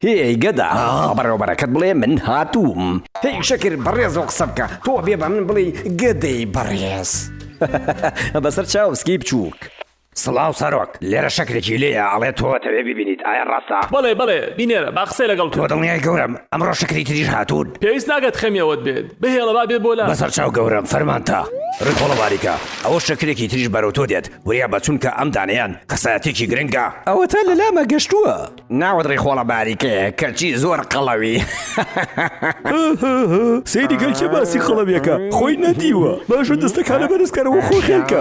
هێی گەدا بەڕێوەبەرەکەت بڵێ من هاتووم هی شەکر بەڕێزەوە قسە بکە تۆ بێ بە من بڵێ گەدەی بەڕێز بەسەر چاوسکی بچووک. سڵاو سەرۆک لێرە شەکرێکی لێیە ئەڵێ تۆ تەوێ ببینیت ئایا ڕاستە؟ بەڵێ بەڵێ بینێرە با قسەی لەگەڵ بکە. تۆ دڵنیای گەورەم ئەمڕۆ شەکری تریش هاتوون؟ پێویست ناکات خەمی ئەوەت بێت بهێڵە با بێ بۆلام. بەسەر چاو گەورەم فەرمانتە. ڕیخۆڵە باریکە ئەوە شەکرێکی تریش بەرەو تۆ دێت وریا بە چونکە ئەم دانەیان کەسایەتیەکی گرنگە. ئەوەتا لەلامە گەشتووە. ناوت ڕیخۆڵە باریکەیە کەچی زۆر قەڵەوی هەهەهەهە سەیری کە کێ باسی قەڵەویەکە خۆی نەدیوە باشە دەستەکانە بەرز کەرەوە خۆ خێلکە.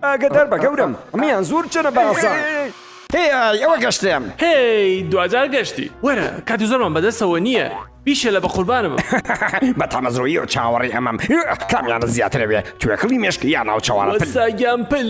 ئاگادار بە گەورەم ئەمەیان زۆر چەنە باسە. هێی ئای ئەوە گەشتم. هێی دواجار گەشتی. وەرە کاتی زۆرمان بەدەستەوە نییە بیشێلە بە قوربانم. هەهەهەهە بە تامەزرۆیی و چاوەڕێی ئەمەم. کامیانت زیاترەوێ توێکڵی مێشک یان ناوچەوانە پل. وەستا گیان پل.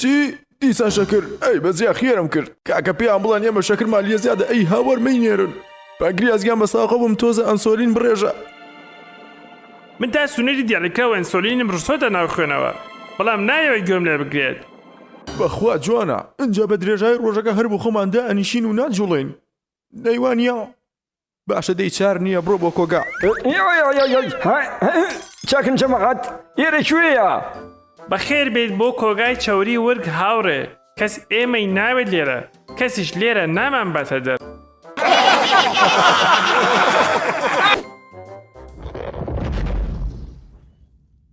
چی؟ دیسان شەکر؟ ئەی بەس جا خێرم کرد کاکە پێیان بڵێن ئێمە شەکرمان لێ زیادە ئەی ها وەرمەی نێرن پەنکریاس گیان بە ساقە بووم تۆزە ئەنسۆلین بڕێژە من تا سنووری دیالیکەوە ئەنسۆلینم ڕشتۆتە ناو خوێنەوە، بەڵام نایەوێت گوێم لێ بگرێت. بەخوا جوانە، ئینجا بە درێژایی ڕۆژەکە هەر بۆ خۆمان دائەنیشین و ناجووڵێین، نەیوانییە؟ باشە دەی چار نییە بڕۆ بۆ کۆگا. چاکن جەماعەت ئێرە کوێیە؟ بەخێر بێیت بۆ کۆگای چەوری ورگ هاوڕێ کەس ئێمەی ناوێت لێرە کەسیش لێرە نامان باتە دەر.